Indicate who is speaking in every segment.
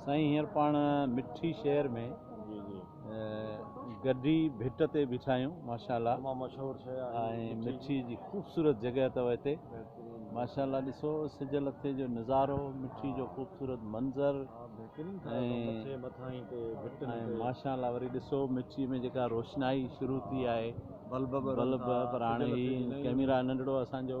Speaker 1: سائين هينئر پاڻ مٺي شهر ۾ گڊي ڀٽ تي بيٺا آهيون ماشاءالله تمام مشهور شهر آهي
Speaker 2: ۽ مٺي جي
Speaker 1: خوبصورت جڳهه اٿو هتي ماشاءالله ڏسو سج لٿي جو نظارو مٺي جو خوبصورت منظر ۽ ماشاءالله وري ڏسو مٺي ۾ جيڪا روشنائي شروع ٿي آهي بلب براڻي ڪيميرا ننڍڙو اسان جو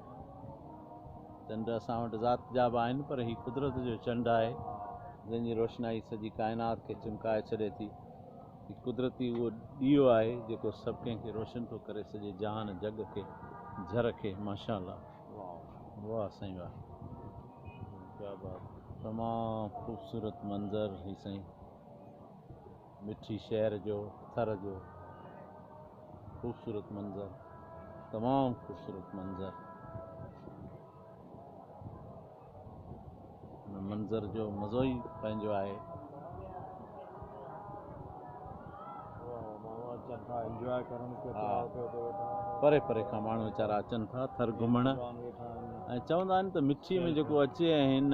Speaker 1: چنڊ اسان وٽ ذات جا به آهن پر هي قدرت جو چنڊ آهي جنهن جي روشنائي سڄي ڪائنات کي چمڪائي ڇڏي ٿي. هي قدرتي اهو ڏيئو آهي جيڪو سڀ ڪنهن کي روشن ٿو ڪري سڄي جهان جڳ کي جھر کي ماشاء الله واھ سائين واھ ڪيا بات تمام خوبصورت منظر هي سائين. مٺي شهر جو ٿر جو خوبصورت منظر تمام خوبصورت منظر ان منظر جو مزو ئي پنهنجو آهي پري پري کان ماڻهو ويچارا اچن ٿا ٿر گهمڻ ۽ چوندا آهن ته مٺي ۾ جيڪو اچي ۽ هن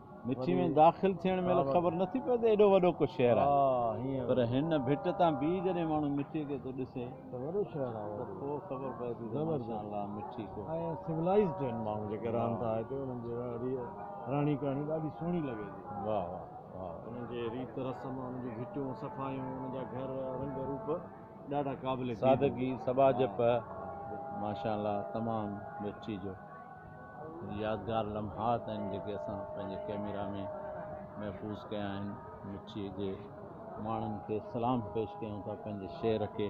Speaker 2: مٺي ۾
Speaker 1: داخل ٿيڻ مهل خبر نه ٿي پوي ته ايڏو وڏو ڪو شهر آهي پر هن ڀٽ تان بيهي جڏهن ماڻهو مٺي کي ٿو ڏسي ته وڏو شهر آهي
Speaker 2: ته پوء خبر پوي
Speaker 1: ٿي ته ماشاء الله مٺي ڪو ۽ سولائيزڊ
Speaker 2: آهن ماڻهو جيڪي رهن ٿا هتي انهن جي رهڻي ڪهڻي ڏاڍي سهڻي لڳي ٿي واهه واهه واهه
Speaker 1: انهن جي ريت
Speaker 2: رسم انهن جون ڀٽيون صفايون انهن جا گهر رنگ روپ ڏاڍا قابل سادگي سٻاجهپ
Speaker 1: ماشاء الله تمام مٺي جو يادگار لمحات آهن جيڪي اسان پنهنجي ڪئميرا ۾ محفوظ ڪيا آهن مٺي جي ماڻهن کي سلام پيش ڪيون ٿا پنهنجي شعر کي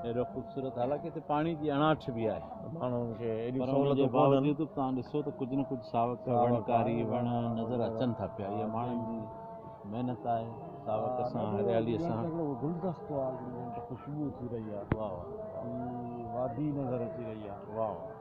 Speaker 1: اهڙو خوبصورت حالانڪه هتي پاڻي جي اڻاٺ به آهي ماڻهن کي
Speaker 2: اهڙيون سهولتون
Speaker 1: ڪونهن توهان ڏسو ته ڪجهه نه ڪجهه ساوڪ وڻڪاري وڻ نظر اچن ٿا پيا اها ماڻهن جي محنت آهي ساوڪ سان هريالي سان گلدستو آهي
Speaker 2: خوشبو ٿي رهي آهي واهه واهه وادي نظر اچي رهي آهي واهه واهه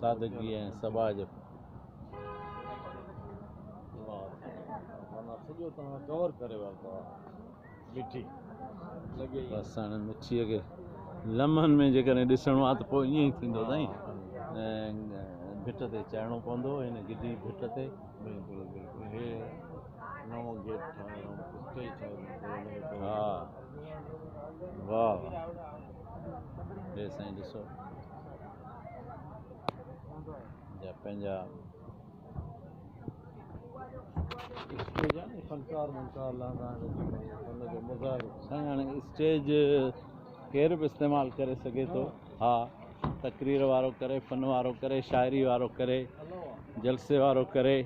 Speaker 1: سادگي ۽ سٻاء
Speaker 2: جي وسڻ مٺيء
Speaker 1: کي لمحن ۾ جيڪڏهن ڏسڻو آهي ته پوء ائين ئي ٿيندو سائين ڀٽ تي چڙهڻو پوندو هن گڊي ڀٽ تي بلڪل بلڪل
Speaker 2: هي نئون گيٽ ٺاهيو ها واهه
Speaker 1: واهه هي
Speaker 2: سائين ڏسو جا پنهنجا سائين اسٽيج
Speaker 1: ڪير به استعمال ڪري سگهي ٿو ها تقرير وارو ڪري فن وارو ڪري شاعري وارو ڪري جلسي وارو ڪري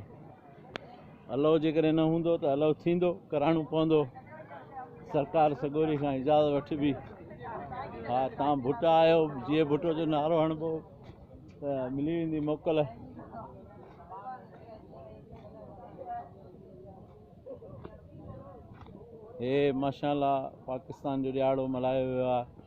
Speaker 1: الهو جيڪڏهن نه هوندو ته الهو ٿيندو ڪراڻو پوندو سرڪار سڳوري کان اجازت وٺبي ها تان ڀٽا آيو جي ڀٽو جو نعرو هڻبو ته ملي ويندي موڪل هي ماشاء الله پاڪستان جو ڏياڙو ملهايو ويو آهي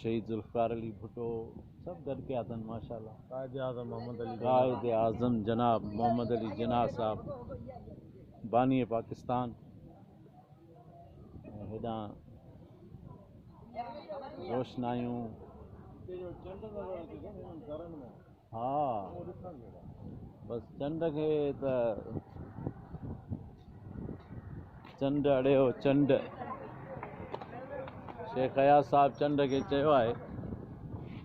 Speaker 1: شهيد ذوالفقار علي ڀٽو سڀ گڏ ڪيا اٿن ماشاءالله
Speaker 2: قائد اعظم
Speaker 1: جناب محمد علي جناح صاحب باني پاڪستان هيڏانهن روشنايون ها بس چنڊ کي ته چنڊ اڙيو چنڊ شيخ اياز صاحب چنڊ کي چيو آهي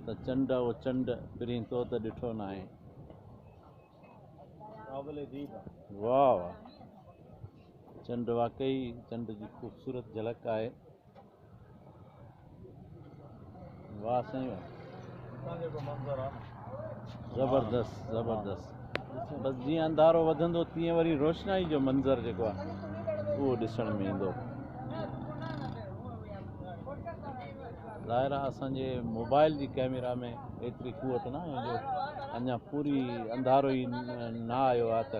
Speaker 1: ته چنڊ او چنڊ پرين تو ته ڏٺو ناهي واهه واهه چنڊ واقعي چنڊ جي خوبصورت جھلڪ آهي واه سائين واه اتان جيڪو منظر آ نه زبردست زبردست بس جيئن انڌارو وڌندو تيئن وري روشنائي جو منظر جيڪو آ اهو ڏسڻ ۾ ايندو ظاهر آ اسان جي موبائل جي ڪئميرا ۾ ايتري قوت ناهي جو اڃا پوري انڌارو ئي نه آيو آ ته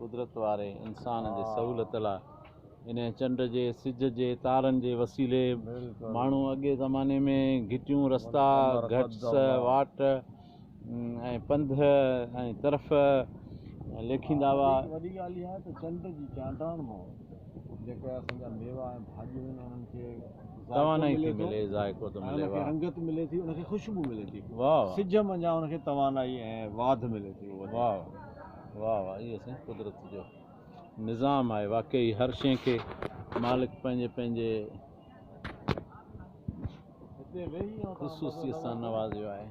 Speaker 2: قدرت واري
Speaker 1: انسان جي سهولت لاء انهيء چنڊ جي، سج جي، تارن جي وسيلي ماڻهو اڳئين زماني ۾ گهٽيون، رستا، گهٽس، واٽ ۽ پنڌ ۽ طرف ليکيندا هئا. وڏي ڳالهه اها آهي ته
Speaker 2: چنڊ جي چانڊرائڻ مان جيڪي اسان جا ميوا ۽ ڀاڄيون آهن انهن کي توانائي ٿي
Speaker 1: ملي ذائقو ٿو ملي، واه! رنگت ملي ٿي ان
Speaker 2: کي خوشبو ملي ٿي، سج منجهان
Speaker 1: ان کي
Speaker 2: توانائي ۽ واڌ ملي ٿي، واه!
Speaker 1: واھ واھ اهو سائين قدرت جو نظام آهي واقعي هر شئي کي مالڪ پنهنجي پنهنجي خصوصيت سان نوازيو آهي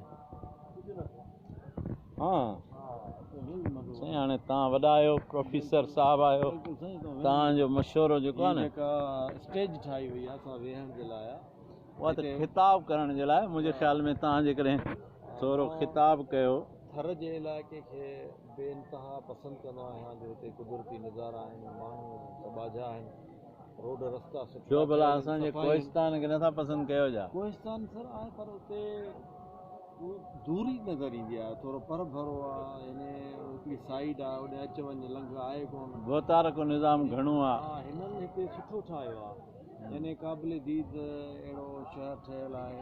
Speaker 1: ها سائين هاڻي تان وڏا آهيو پروفيسر صاحب آهيو تان جو مشورو جيڪو آهي نه اسٽيج ٺاهي وئي
Speaker 2: آهي اسان ويهڻ جي لاء اها ته
Speaker 1: خطاب ڪرڻ جي لاء منهنجي خيال ۾ تان جيڪڏهن ٿورو خطاب ڪيو ٿر جي علائقي
Speaker 2: کي بي انتها پسند ڪندو آهيان جو هتي قدرتي نظارا آهن، ماڻهو سٻاجها آهن، روڊ رستا سٺا ڇو ڀلا ٿيل آهن، اسان جي صفائي آهن.
Speaker 1: ڪوهستان کي نٿا پسند ڪيو ڇا؟ ڪوهستان سر آهي پر
Speaker 2: اتي دوري نظر ايندي آهي، ٿورو پر ڀرو آهي، يعني هڪڙي سائيڊ آهي هوڏي اچ وڃ لنگهه آهي ڪونه. گهوتارڪو نظام
Speaker 1: گهڻو آهي. ها هنن هتي
Speaker 2: سٺو ٺاهيو آهي. يعني قابل ديد اهڙو شهر ٺهيل آهي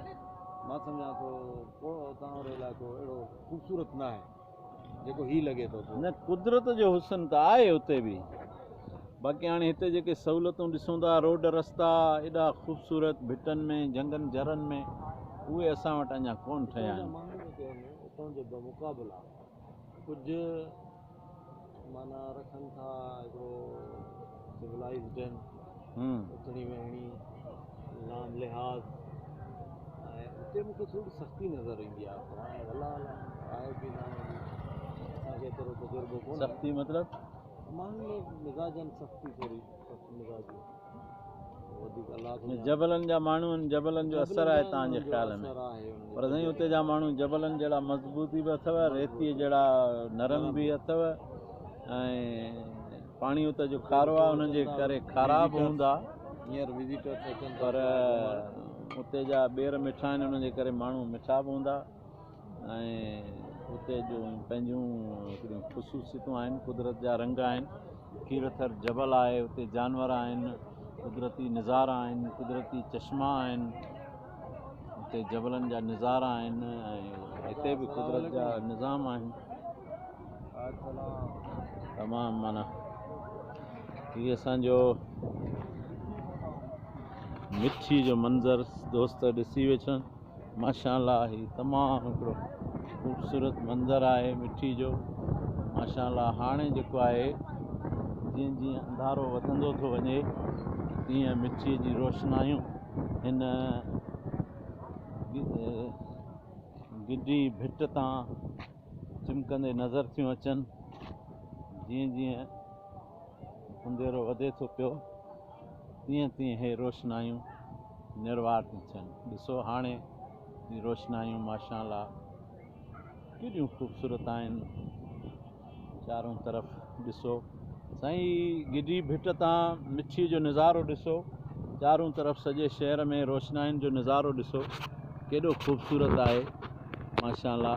Speaker 2: مان سمجهان ٿو ڪو اتان جو علائقو اهڙو خوبصورت نه آهي جيڪو هي لڳي ٿو پيو نه قدرت جو
Speaker 1: حسن ته آهي اتي به باقي هاڻي هتي جيڪي سهولتون ڏسون ٿا روڊ رستا ايڏا خوبصورت ڀٽن ۾ جهنگن جرن ۾ اهي اسان وٽ اڃا ڪون ٺهيا آهن اتان جو
Speaker 2: بمقابلا ڪجهه معنيٰ رکن ٿا هڪڙو سولائيزڊ هن اٿڻي ويهڻي نام لحاظ ۽ اتي مون کي ٿوري سختي نظر ايندي آهي پر هاڻي الله الله آهي ڪي ناهي اسان کي ايترو تجربو ڪونهي سختي مطلب
Speaker 1: ماڻهن ۾
Speaker 2: مزاجن سختي ٿوري سخت مزاجي
Speaker 1: جبلن جا ماڻهو آهن جبلن جو اثر آهي توهان جي خيال ۾ پر سائين اتي جا ماڻهو جبلن جهڙا مضبوطي به اٿو ريتي جهڙا نرم به اٿو ۽ پاڻي اتي جو کارو آهي انهن جي ڪري کارا به هوندا هينئر وزيٽر
Speaker 2: پر
Speaker 1: اتي جا ٻير مٺا آهن انهن جي ڪري ماڻهو مٺا به هوندا ۽ اتي جو پنهنجون هڪڙيون خصوصيتون آهن قدرت جا رنگ آهن کير ٿر جبل آهي اتي جانور آهن قدرتي نظارا آهن قدرتي چشما آهن اتي جبلن جا نظارا آهن ۽ هتي به قدرت جا نظام آهن تمام مانا هي اسانجو مٺي جو منظر دوست ڏسي ويٺا ماشاء الله هي تمام هڪڙو خوبصورت منظر آهي مٺي جو ماشاء الله هاڻي جيڪو آهي جيئن جيئن انڌارو وڌندو ٿو وڃي تيئن مٺي جي روشنايون هن گڊي ڀٽ تان چمڪندي نظر ٿيون اچن جيئن جيئن انڌيرو وڌي ٿو پيو تيئن تيئن هي روشنايون نروار ٿيون ٿين ڏسو هاڻي هي روشنايون ماشاءالله ڪيڏيون خوبصورت آهن چارون طرف ڏسو سائين هي گڊي ڀٽ تان مٺي جو نظارو ڏسو چارون طرف سڄي شهر ۾ روشناين جو نظارو ڏسو ڪيڏو خوبصورت آهي ماشاءالله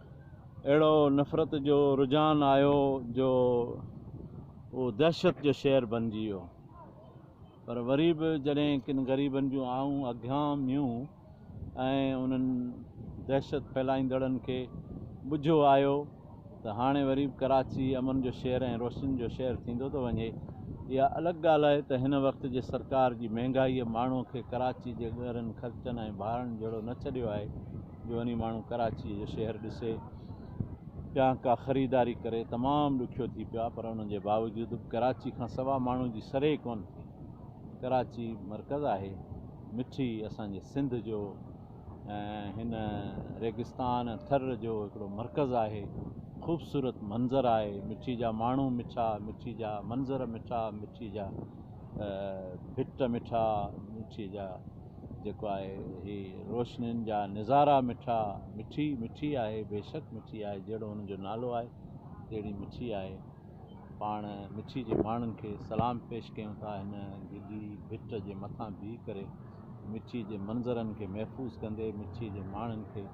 Speaker 1: اهڙو نفرت جو رجحان آيو جو اهو دهشت جو شهر بنجي ويو پر وري به جڏهن ڪن غريبن جون آئون اگهيان ميون ۽ انهن دهشت ڦهلائيندڙن کي ٻجهو آيو ته هاڻي وري به ڪراچي امن جو شهر ۽ روشنين جو شهر ٿيندو ٿو وڃي اها الڳ ڳالهه آهي ته هن وقت جي سرڪار جي مهنگائيء ماڻهوء کي ڪراچي جي ڳهرن خرچن ۽ ڀاڙن جهڙو نه ڇڏيو آهي جو وڃي ماڻهو ڪراچيء جو شهر ڏسي يا ڪا خريداري ڪري تمام ڏکيو ٿي پيو آهي پر ان جي باوجود به ڪراچي کان سوا ماڻهو جي سري ئي ڪونه ٿي ڪراچي مرڪز آهي مٺي اسان جي سنڌ جو ۽ هن ريگستان ٿر جو هڪڙو مرڪز آهي خوبصورت منظر آهي مٺي جا ماڻهو مٺا مٺي جا منظر مٺا مٺي جا ڀٽ مٺا مٺي جا جيڪو آهي هي روشنين جا نظارا مٺا مٺي مٺي آهي بيشڪ مٺي آهي جهڙو هن جو نالو آهي تهڙي مٺي آهي پاڻ مٺي جي ماڻهن کي سلام پيش ڪيون ٿا هن گلي ڀٽ جي مٿان بيهي ڪري مٺي جي منظرن کي محفوظ ڪندي مٺي جي ماڻهن کي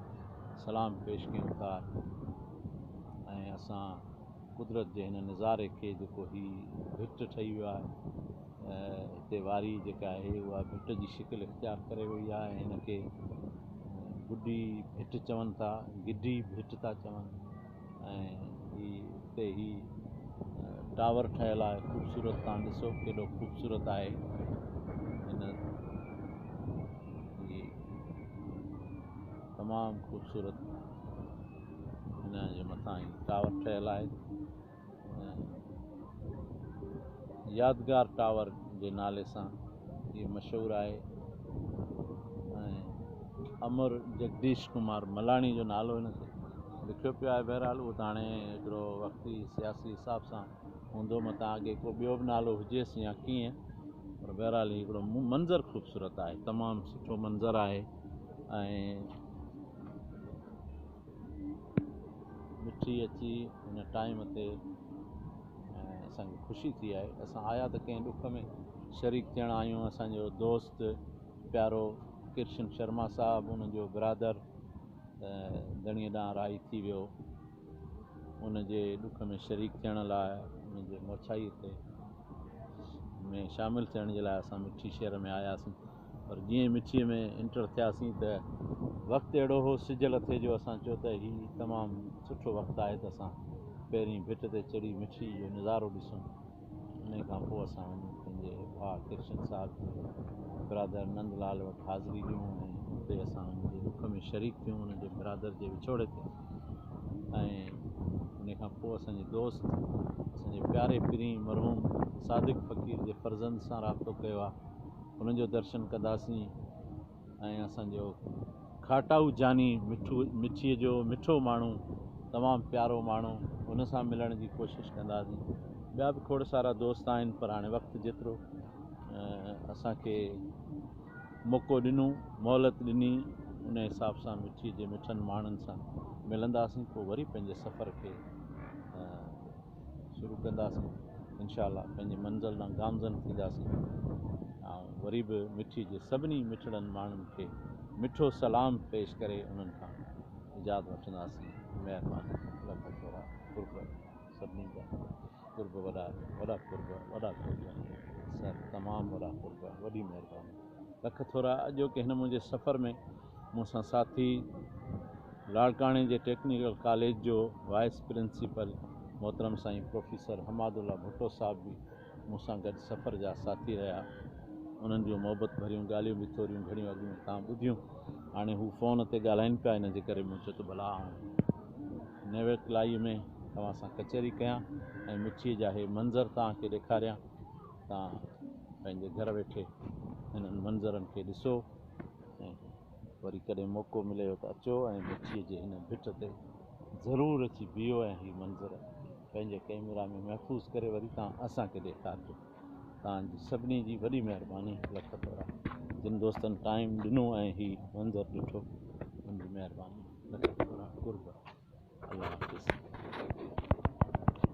Speaker 1: سلام پيش ڪيون ٿا ۽ اسان قدرت جي هن نظاري کي جيڪو هي ڀٽ ٺهي ويو آهي هتي واري جيڪا آهي اها ڀٽ جي شڪل اختيار ڪري وئي آهي ۽ هن کي گڊي ڀٽ چون ٿا گڊي ڀٽ ٿا چون ۽ هي هتي هي ٽاور ٺهيل آهي خوبصورت تان ڏسو ڪيڏو خوبصورت آهي هن هي تمام خوبصورت هن جي مٿان هي ٽاور ٺهيل آهي يادگار ٽاور جي نالي سان هي مشهور آهي ۽ امر جگديش ڪمار ملاڻي جو نالو هن کي لکيو پيو آهي بهرحال اهو ته هاڻي هڪڙو وقتي سياسي حساب سان هوندو متان اڳي ڪو ٻيو به نالو هجيس يا ڪيئن پر بهرحال هي هڪڙو منظر خوبصورت آهي تمام سٺو منظر آهي ۽ مٺي اچي هن ٽائيم تي ۽ اسان کي خوشي ٿي آهي اسان آيا ته ڪنهن ڏک ۾ شريڪ ٿيڻ آيا آهيون اسانجو دوست پيارو ڪرشن شرما صاحب ان جو برادر ڌڻي ڏانهن راهي ٿي ويو ان جي ڏک ۾ شريڪ ٿيڻ لاء ان جي موڇائي تي ۾ شامل ٿيڻ جي لاء اسان مٺي شهر ۾ آياسين پر جيئن ئي مٺيء ۾ انٽر ٿياسين ته وقت اهڙو هو سج لٿي جو اسان چيو ته هي تمام سٺو وقت آهي ته اسان پهرين ڀٽ تي چڙهي مٺيء جو نظارو ڏسون انهيء کان پوء اسان وڃي پنهنجي ڀاء ڪرشن صاحب جي برادر نند لال وٽ حاضري ڏنون ۽ اتي اسان ان جي ڏک ۾ شريڪ ٿيون ان جي برادر جي وڇوڙي تي ۽ انهيء کان پوء اسان جي دوست اسان جي پياري پرينء مرحوم صادق فقير جي فرزند سان رابطو ڪيو آهي. انهن جو درشن ڪنداسين ۽ اسان جو کاٽائو جاني مٺو مٺيء جو مٺو ماڻهو تمام پيارو ماڻهو ان سان ملڻ جي ڪوشش ڪنداسين ٻيا به کوڙ سارا دوست آهن پر هاڻي وقت جيترو اسان کي موقعو ڏنو مهلت ڏني ان حساب سان مٺيء جي مٺن ماڻهن سان ملنداسين پوء وري پنهنجي سفر کي شروع ڪنداسين انشاء الله پنهنجي منزل ڏانهن گامزن ٿينداسين آئون وري به مٺي جي سڀني مٺڙن ماڻهن کي مٺو سلام پيش ڪري انهن کان اجازت وٺنداسين مهرباني لک ٿورا قرب سڀني جا قرب وڏا وڏا قرب وڏا قرب سر تمام وڏا قرب وڏي مهرباني. لک ٿورا اڄوڪي هن منهنجي سفر ۾ مون سان ساٿي لاڙڪاڻي جي ٽيڪنيڪل ڪاليج جو وائيس پرنسپل محترم سائين پروفيسر حماد الله ڀٽو صاحب به مون سان گڏ سفر جا ساٿي رهيا انهن جون محبت ڀريون ڳالهيون به ٿوريون گهڻيون اڳ ۾ تان ٻڌيون هاڻي هو فون تي ڳالهائين پيا ان جي ڪري مون چيو ته ڀلا آئون نيويڪلائي ۾ توهان سان ڪچهري ڪيان ۽ مٺيء جا هي منظر توهان کي ڏيکاريان توهان پنهنجي گهر ويٺي انهن منظرن کي ڏسو ۽ وري ڪڏهن موقعو مليو ته اچو ۽ مٺيء جي هن ڀٽ تي ضرور اچي بيهو ۽ هي منظر پنهنجي ڪئميرا ۾ محفوظ ڪري وري توهان اسان کي ڏيکارجو. توهان جي سڀني جي وڏي مهرباني. لک ٿورا. جن دوستن ٽائيم ڏنو ۽ هي منظر ڏٺو ان جي مهرباني. لک ٿورا. قرب. الله حافظ.